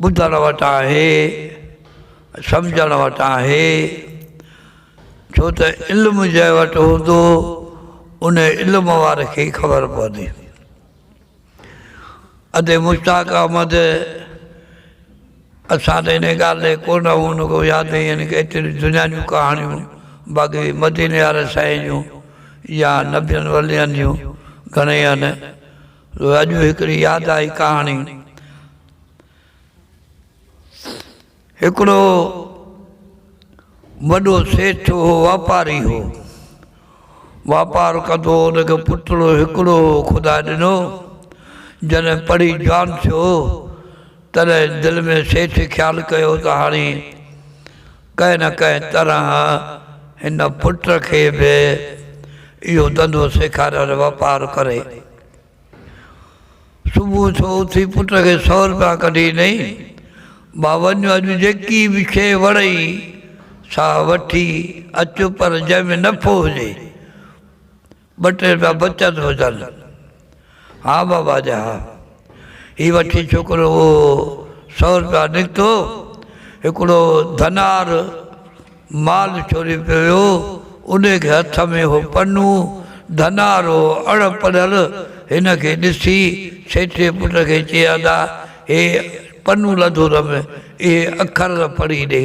ٻڌڻ وٽ آهي، سمجهڻ وٽ آهي، ڇو ته علم جنهن وٽ هوندو، ان علم واري کي ئي خبر پوندي. ادي مشتاق احمد اسان ته انهيء ڳالهه لاء ڪونه هو، ان کان ياد نه يعني ڪه ايتريون دنيا جون ڪهاڻيون، باقي مديني واري سائين جون يا نبين ولين جون گهڻيئي آهن. اڄ هڪڙي ياد آئي ڪهاڻي. هڪڙو وڏو سيٺ هو واپاري هو واپار ڪندو هو ان کي پٽڙو هڪڙو هو خدا ڏنو جڏهن پڙهي جوان ٿيو تڏهن دل ۾ سيٺ خيال ڪيو ته هاڻي ڪنهن نه ڪنهن طرح هن پٽ کي به اهو ڌنڌو سيکاريل واپار ڪري. صبح جو اٿي پٽ کي سؤ روپيا ڪڍي ڏنائين، ڀا وڃ اڄ جيڪي به شيء وڻئي سا وٺي اچ پر جنهن ۾ نفعو هجي. ٻه ٽي رپيا بچيا ته هجن. ها بابا جا ها. هي وٺي ڇوڪرو اهو سؤ رپيا نڪتو. هڪڙو ڌنار مال ڇوري پيو ويو. انهي کي هٿ ۾ هو پنو ڌنار هو اڻ پڙهيل هن کي ڏسي سيٺي پٽ کي چئي ادا هي پنو لڌو ته م اهي اکر ته پڙهي ڏي.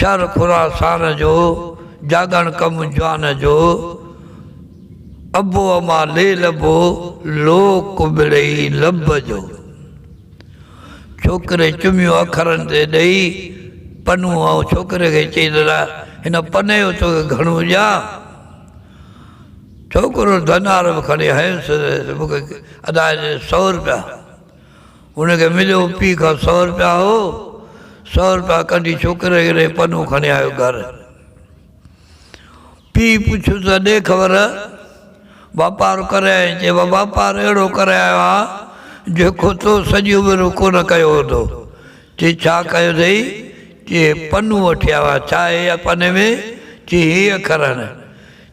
شھر خراسان جو، جاڳڻ ڪم جوان جو، ابو اما ليل ابو، لوڪ ملئي لب جو. ڇوڪري چميون اکرن تي ڏئي پنو ۽ ڇوڪري کي چئي ته الا هن پني جو توکي گهڻو ڏيان؟ ڇوڪرو ڌنار به کڻي هنس مون کي ادا هي ڏي سؤ روپيا. هن کي مليو پيء کان سؤ رپيا هو سؤ رپيا ڪڍي ڇوڪري کي ڏئي پنو کڻي آيو گهر پيء پڇيو ته ڏي خبر واپار ڪري آئين چي واپار اهڙو ڪري آيو آهيان جيڪو تو سڄي عمر ۾ ڪونه ڪيو هوندو چي ڇا ڪيو اٿئي چي پنو وٺي آيو آهيان ڇا هي پني ۾ چي هي اکر آهن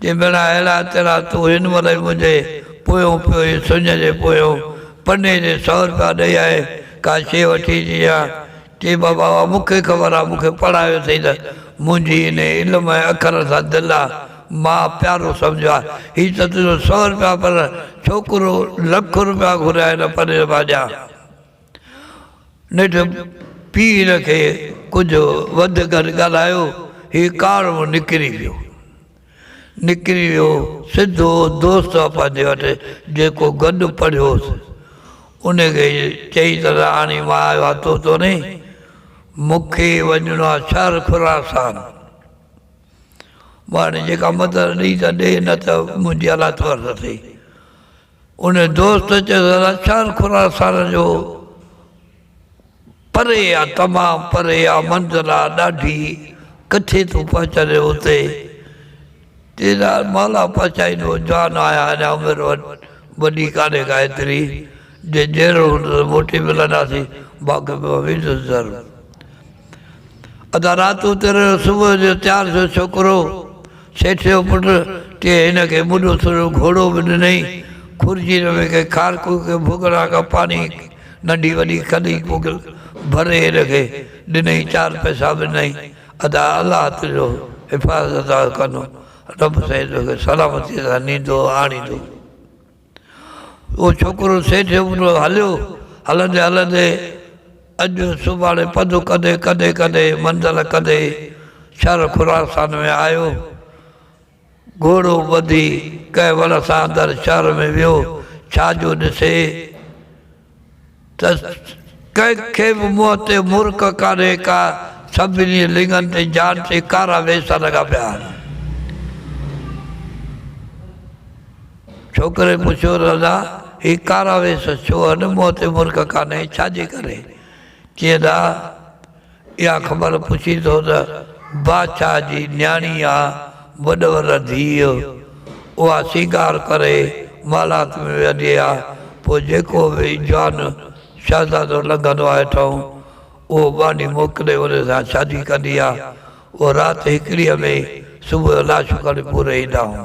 جي ڀيڻا اهڙا تهڙا تون هن ورهيه منهنجي پويون پيو هي سڃ جي پويون پني جي سؤ رپيا ڏئي آء ڪا شيء وٺي اچي ها چي بابا اها مون کي خبر آ مون کي پڙهايو اٿئي ته منهنجي انهي علم ۽ اکرن سان دل آ ماء پيارو سمجهيو آ هي ته تنهنجو سؤ رپيا پر ڇوڪرو لک رپيا گهريا هن پني مان ڏيان. نيٺ پير کي ڪجهه وڌ گهٽ ڳالهايو، هي ڪارو نڪري ويو. نڪري ويو سڌو دوست آپا جي وٽ جيڪو گڏ پڙهيو هوس. ان کي چئي ته رهاڻي مان آيو آهيان تو تو نه، مون کي وڃڻو آهي شهر خراسان. مڙني جيڪا مدد ڏئي ته ڏي نه ته منهنجي الا ٿورٿ ٿئي. ان دوست چيس ادا چار خراسان جو پري آ تمام پري آ منزل آ ڏاڍي ڪٿي ٿو پهچندين اتي چيس مالها پهچائيندو جوان آهيان اڃا عمر وڏي ڪانهي ڪا ايتري جي جهڙو هوندو ته موٽي ملنداسين باقي مان ويندس ضرور ادا رات اتر صبح جو تيار ٿيو ڇوڪرو سيٺ جو پٽ ڪنهن هن کي مڏو سرو گهوڙو به ڏنئي خورجير ۾ ڪنهن کارڪو ڪنهن ڀوڳڙا کان پاڻي ننڍي وڏي کڏي پوڳل ڀري هن کي ڏنئي چار پئسا به ڏنئي ادا الله تنهنجو حفاظت ڪندو رب سائين توکي سلامتي سان نيندو آڻيندو. اهو ڇوڪرو سيٺ ابرو هليو، هلندي هلندي اڄ سڀاڻي پڌ ڪندي ڪندي ڪندي منزل ڪندي شھر خراسان ۾ آيو. گهوڙو ٻڌي ڪنهن وڻ سان اندر شهر ۾ ويو، ڇا جو ڏسي؟ ته ڪنهن کي به منهن تي مرڪ ڪانهي ڪا، سڀني لڱن تي جان تي ڪارا ويسا لڳا پيا آهن. ڇوڪري پڇيو، رضا، هي ڪارا ويس ڇو آهن، منهن تي مرڪ ڪانهي، ڇا جي ڪري؟ چيئن ته. اها خبر پڇين ٿو ته بادشاهه جي نياڻي يا وڏور ڌيء اها سينگار ڪري محلات ۾ ويهندي آهي، پوء جيڪو به جوان شهزادو لنگهندو آهي اٺئون، اهو ٻانهي موڪلي ان سان شادي ڪندي آهي. اهو رات هڪڙيء ۾ صبح جو لاشون کڻي پوري ايندا هئا.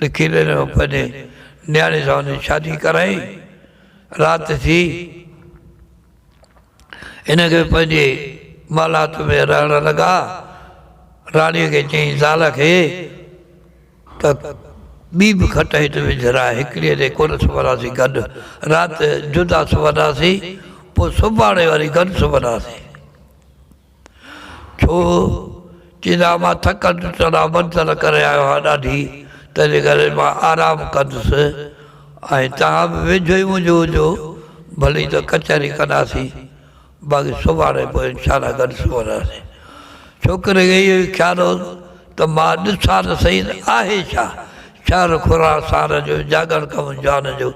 لکي ڏنو ۽ پنهنجي نياڻي سان ان جي شادي ڪرائي. رات ٿي. هن کي پنهنجي محلات ۾ رهڻ لڳا. راڻيء کي چيائين زال کي ته ٻي به کٽ هت وجهراء، هڪڙيء تي ڪونه سمهنداسين گڏ، رات جدا سمهنداسين، پوء سڀاڻي وري گڏ سمهنداسين. ڇو؟ چيس ها مان ٿڪل ٽٽل ۽ منٿل ڪري آيو آهيان ڏاڍي، تنهنجي ڪري مان آرام ڪندس ۽ توهان به ويجهو ئي منهنجو هجو، ڀلي ته ڪچهري ڪنداسين، باقي سڀاڻي پوء انشاء الله گڏ سمهنداسين. ڇوڪري کي اهو ئي خيال هوس ته مان ڏسان ته سهي ته آهي ڇا؟ شهر خوران سارن جو، جاڳڻ ڪم جوانن جو،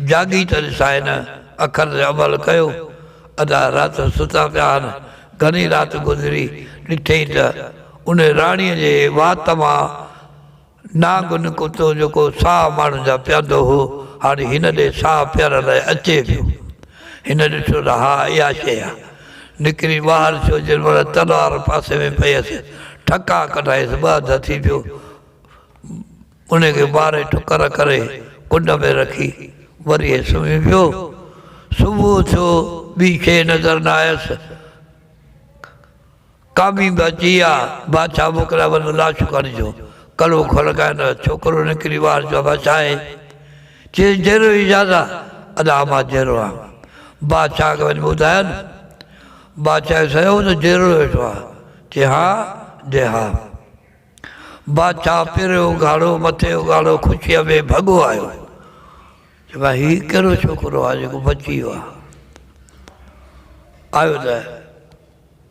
جاڳي ته ڏسان هن اکر تي عمل ڪيو. ادا رات ستا پيا هن، گهڻي رات گذري، ڏٺئي ته ان راڻيء جي وات مان نانگ نڪتو جيڪو ساهه ماڻهن جا پيئندو هو، هاڻي هن ڏي ساهه پيئڻ لاء اچي پيو. هن ڏٺو ته ها اها شيء آهي. نڪري ٻاهر ٿيو جن مهل تلوار پاسي ۾ پيس، ٺڪا ڪڍائيس، ٻه اڌ ٿي پيو. انهي کي ٻاري ٺڪر ڪري ڪنڊ ۾ رکي وري سمهي پيو. صبح ٿيو ٻي شيء نظر نه آيس. ڪامي به اچي آ. بادشاهه موڪليا وڃو لاشون کڻجو. ڪلهو کڙڪائين ته ڇوڪرو نڪري وار چيو امان ڇا هي؟ چيس جيرو هي زادا. ادا امان جيرو آ. بادشاهه کي وڃي ٻڌاين. بادشاهه کي سهيو ته جيرو ويٺو آ. چي ها؟ جي ها. بادشاهه پيرو اگهاڙو، مٿي اگهاڙو خوشيء ۾ ڀڳو آيو. چيو ڀاء هي ڪهڙو ڇوڪرو آهي جيڪو بچي ويو آهي. آيو ته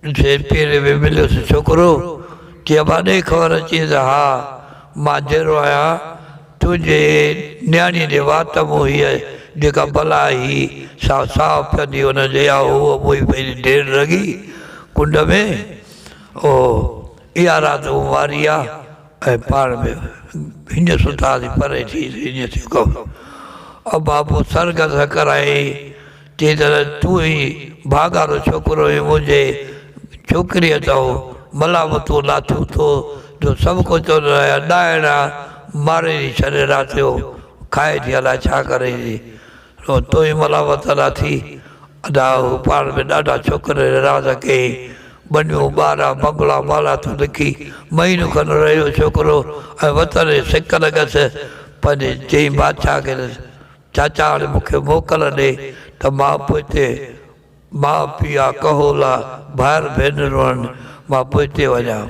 ڏٺئي پيري ۾ مليس ڇوڪرو، چيو ابا ڏي خبر اچيس ته ها مان جيئرو آهيان، تنهنجي نياڻيء جي وات مون هيء جيڪا بلا هي سا صاف ڪندي هن جيئا هوء موئي پنهنجي ڍير رڳي ڪنڊ ۾ اهو اها رات هو واري آ ۽ پاڻ به هنجي ستا ٿي پري ٿي هنجي ٿيو ڪم او بابو سر گذ هڪرائي چي ته تون ئي ڀاڳارو ڇوڪرو هين منهنجي ڇوڪري تئو ملامتون لاٿيون ٿو جو سڀ ڪو چون ته اها ڏائڻ آ ماري ٿي ڇڏي رات جو کائي ٿي الائي ڇا ڪري ٿي رو تو ئي ملامت ادا ٿي. ادا هو پاڻ به ڏاڍا ڇوڪر رراز ڪئي ٻنيون ٻارا بنگلا مالا تون لکي مهينو کن رهيو ڇوڪرو ۽ وطن جي سڪ لڳس پنهنجي چئين بادشاهه کي ته چاچا هاڻي مون کي موڪل ڏي ته مان به هتي ماء پيء ڪهولا ڀائر ڀينرون آهن مان به هتي وڃان.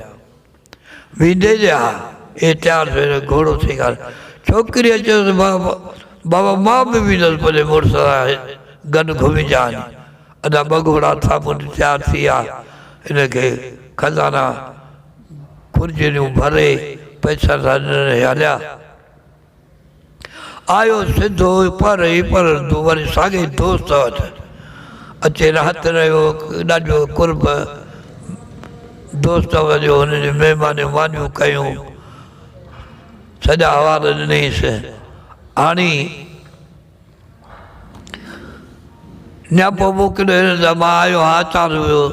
ويندي جا اهي تيار ٿيو ته گهوڙو سينگاري ڇوڪريء چيس، بابا! بابا! مان به ويندس پنهنجي مڙس سان گڏ گهمجان. ادا ٻه گهوڙا ٿا منهنجي تيار ٿي ويا، انهن کي خزانا خرجينيون ڀري پئسا ڏنس هليا. آيو سڌو پر هي پر وري ساڳئي دوست وٽ اچي رهت رهيو ڏاڍو قرب دوست وڃيو هن جي مهمانيون مانيون ڪيون سڄا حوال ڏنيس هاڻي نيا پوء مون ڪڏهن هن جا مان آيو ها چار هيو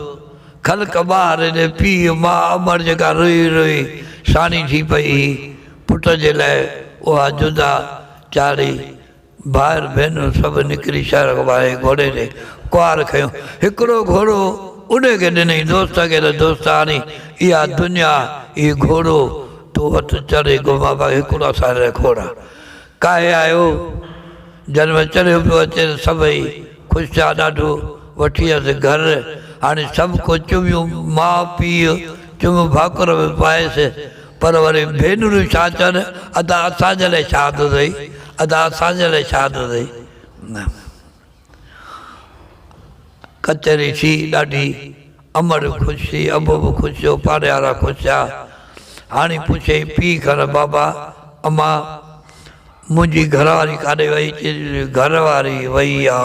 کل ڪبا هر هيڏي پيء ماء امڙ جيڪا روئي روئي ساڻي ٿي پئي هي پٽ جي لاء اها جدا چاڙهي ڀائر ڀينرون سڀ نڪري شهر کان ٻاهر هي گهوڙي تي ڪوار کنيو هڪڙو گهوڙو اڏي کي ڏنئي دوست کي ته دوست هاڻي اها دنيا هي گهوڙو تو وٺ چڙهي گهمابا هڪڙو اسان لاء کوڙ آ. ڪاهي آيو، جڏهن وچڙيو پيو اچي ته سڀئي خوش ٿيا، ڏاڍو وٺي ويس گهر، هاڻي سڀ ڪو چميون، ماء پيء چم ڀاڪر به پائيس، پر وري ڀينرون ڇا چون، ادا اسان جي لاء شاد اٿئي، ادا اسان جي لاء شاد اٿئي. ڪچهري ٿي ڏاڍي، امڙ خوش ٿي، ابو به خوش ٿيو، پاڙيوارا خوش ٿيا. هاڻي پڇيئي پيء کان بابا اما منهنجي گهرواري ڪاڏي وئي؟ چيس گهرواري وئي آ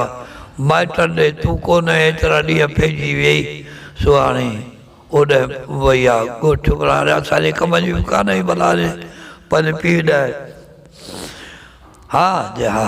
مائٽن ڏي، تون ڪونه ايترا ڏينهن پئجي ويئي سو هاڻي اوڏانهن وئي آ ڳوٺ ڇوڪرا هاڻي اسان جي ڪم جي به ڪانه اهي ڀلا پنهنجي پيء ڏانهن ها جي ها.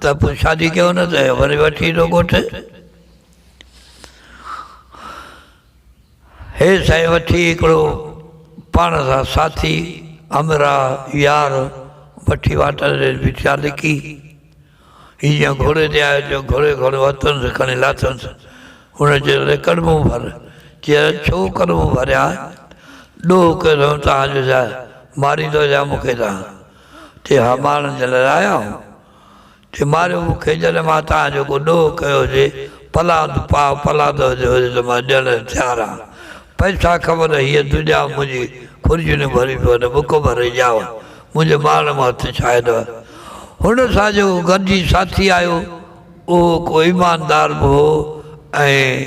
ته پوء شادي ڪيو نه ته وري وٺي ايندو ڳوٺ. هي سائين وٺي هڪڙو پاڻ سان ساٿي، همراهه، يار وٺي واٽر تي بيٺا لڪي. هي جيئن گهوڙي تي آيو تيئن گهوڙي گهوڙو هٿنس کڻي لاٿنس. هن چيس اڙي ڪڙمون ڀر. چيس ڇو ڪڙمون ڀريان؟ ڏوهه ڪيو اٿم تان جو جا ماريندو يا مون کي تان. تي هامان جي لاء آيا هو، تي ماريو مون کي، جڏهن مان توهان جو ڪو ڏوهه ڪيو هجي، پلاند پاء پلاند هجي هجي ته مان ڏيڻ لاء تيار آهيان، پئسا کپن ته هيء تون ڄام منهنجي خرجيون ڀري پيو نه بک ڀري ڄام منهنجي مارڻ مان هٿ ڇهاء نه. هن سان جيڪو گڏجي ساٿي آيو، اهو ڪو ايماندار به هو ۽.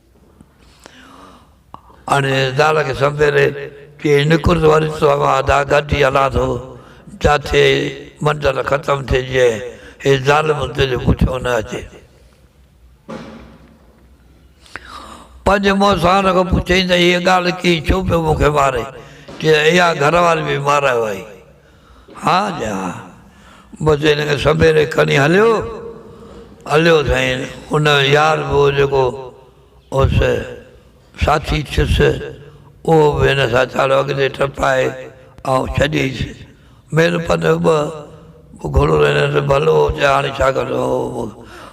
آڻي زال کي سنبيري چي نڪرت وري تو اوهان ادا گڏجي هلان ٿو جاٿي منزل ختم ٿئي جئين هي ظالم تنهنجو پٺيون نه اچي. پنهنجي مونسان کان پڇيائين ته هيء ڳالهه ڪيئن ڇو پيو مون کي مارين چيائين اها گهر واري به مارايو آهي. ها جي ها. بس هن کي سميري کڻي هليو. هليو سائين ان جو يار به هو جيڪو هوس ساٿي ٿيس اهو به هن سان ڇاڙو اڳتي ٽپائي آئون ڇڏيس. ميل پنڌ ٻه به گهڻو نه هن سان ڀلو هو چي هاڻي ڇا ڪندو هو به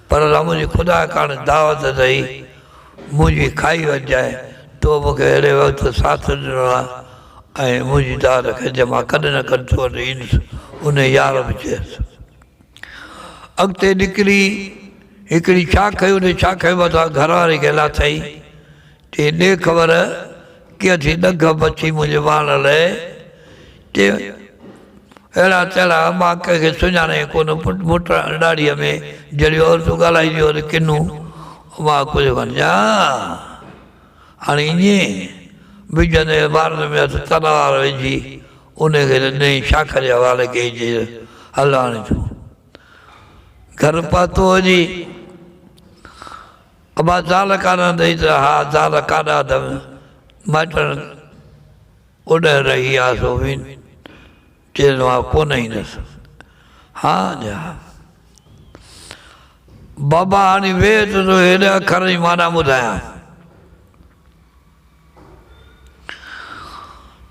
پر رام جي خدا ڪاڻ دعوت اٿئي منهنجي کائي وجهجانء تو مون کي اهڙي وقت ساٿ ڏنو آ. ۽ منهنجي داد کي جي مان ڪڏهن نه ڪڏهن تو وٽ ايندس، انهيء يار به چيس. اڳتي نڪري هڪڙي شاخي انهيء شاخي مٿان گهراڻي کي لاٿئي، چي، ڏي خبر ڪيئن ٿي ڏگهه مڇي منهنجي ماڻڻ لئي؟ چي، اهڙا تهڙا، مان ڪنهن کي سڃاڻان ئي ڪونه، پٽ مٽ ڏاڙهيء ۾ جهڙيون عورتون ڳالهائينديون آهن، ڪنهن مان ڪجهه مان ڄاڻان؟ هاڻي ائين به جڏهن عبارت ۾ هٿ تلوار وجهي انهي کي نئين شاخ جي حوالي ڪئي چئي ته هل هاڻي تون گهر پهتو هجي ابا زال ڪانه اٿئي ته ها زال ڪاڏا اٿم مائٽن اوڏهه رهي آ سوين. چيس مان ڪونه ايندس. ها جي ها. بابا هاڻي ويهه ته تو کي هن اکرن جي معنيٰ ٻڌايان.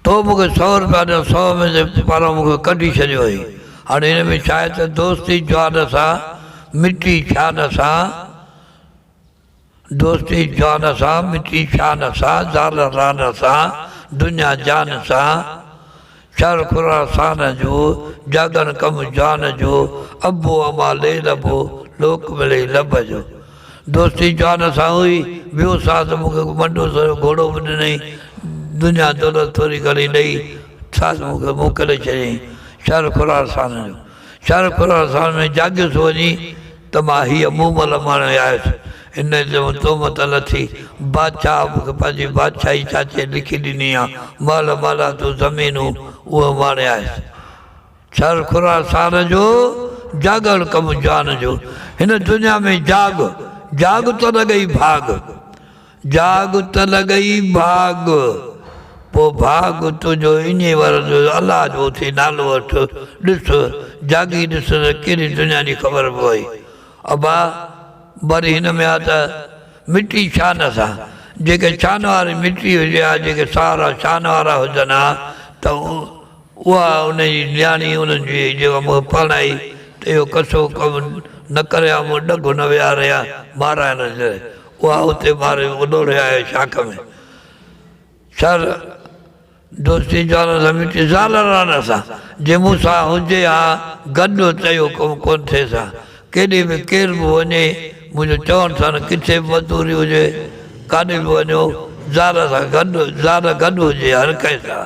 تو مون کي سؤ روپيا ڏنو، سؤ ۾ تي پاران مون کي ڪڍي ڇڏيو آهي. هاڻي هن ۾ ڇا آهي ته دوستي جوان سان مٽي ڇا نه سان. دوستي جان سان مٽي شان سان زال ران سان دنيا جان سان شهر خراسان جو جاڳڻ ڪم جان جو ابو اما لي لبو لوڪ ملي لڀ جو دوستي جان سان هئي ٻيو ساز مون کي منڊو سرو گهوڙو به ڏنئي دنيا دولت ٿوري گهڻي ڏئي ساز مون کي موڪلي ڇڏيائين شهر خراسان جو شارق خراسان ۾ جاڳيس وڃي ته مان هيء مون مهل ماڻيو آهيس، هن جي مون تهمت لٿي، بادشاهه مون کي پنهنجي بادشاهي چاچي لکي ڏني آ، مهل مهلا تون زمينون اهي ماڻي آهيس. شارق خراسان جو جاڳڻ ڪم جان جو، هن دنيا ۾ جاڳ، جاڳ تون لڳئي ڀاڳ. جاڳ ته لڳئي ڀاڳ، پوء ڀاڳ تنهنجو اينجهي ور جو جو الله جو اٿئي نالو وٺ، ڏس، جاڳي ڏس ته ڪيڏي دنيا جي خبر پوي. ابا وري هن ۾ آ ته مٽي شان سان، جيڪي شان واري مٽي هجي ها، جيڪي ساهرا شان وارا هجن ها ته اها ان جي نياڻي ان جي جيڪا مون کي پرڻائي ته اهو ڪسو ڪم نه ڪريان مون ڏگهه نه ويهاريان ماران نه جري اها اتي ماري اڏوڙي آهي شاخ ۾ سر دوستي جوانن سان مٽي زالن رانن سان جي مون سان هجي ها گڏ ته اهو ڪم ڪونه ٿئيس ها ڪيڏي به ڪير به وڃي منهنجو چون ٿن ڪٿي به مزدوري هجي ڪاڏي به وڃو زال سان گڏ زال گڏ هجي هر ڪنهن سان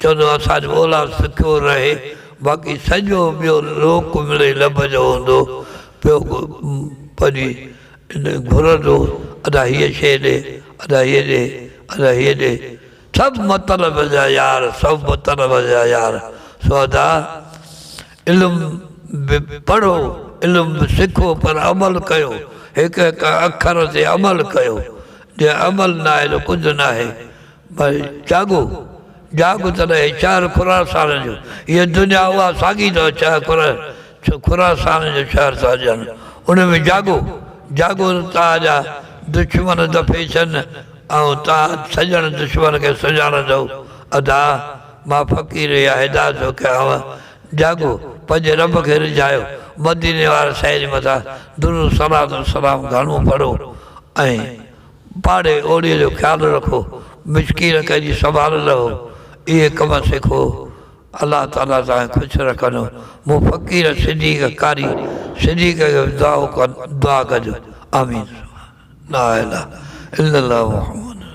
ڇو جو اسان جو اولاد سکيو رهي، باقي سڄو ٻيو لوڪ مڙئي لڀ جو هوندو پيو پنهنجي ان گهرندو ادا هيء شيء ڏي، ادا هيء ڏي، ادا هيء ڏي، سڀ مطلب جا يار، سڀ مطلب جا يار، سو ادا علم به پڙهو، علم به سکو پر عمل ڪيو، هڪ هڪ اکر تي عمل ڪيو، جي عمل ناهي ته ڪجهه ناهي، پر جاڳو، جاڳ ته رهي شهر خراسان جو، هيء دنيا اها ساڳي ته چهه کره ڇو خراسان جو شهر ٿا هجن، ان ۾ جاڳو، جاڳو ته توهان جا دشمن دفي ٿين ۽ توهان سڄڻ دشمن کي سڃاڻندؤ، ادا! مان فقير اها هدايت ٿو ڪيانء، جاڳو، پنهنجي رب کي رجهايو، مديني واري سائي جي مٿان درود صلات و سلام گهڻو پڙهو ۽ پاڙي اوڙي جو خيال رکو، مسڪين ڪنهن جي سنڀال رهو، اهي ڪم سکو، الله تعاليٰ توهان کي خوش رکندو، مون فقير صديق قاري صديق کي به دعا ڪجو، آمين ثم لا اله الا الله محمد رسول الله.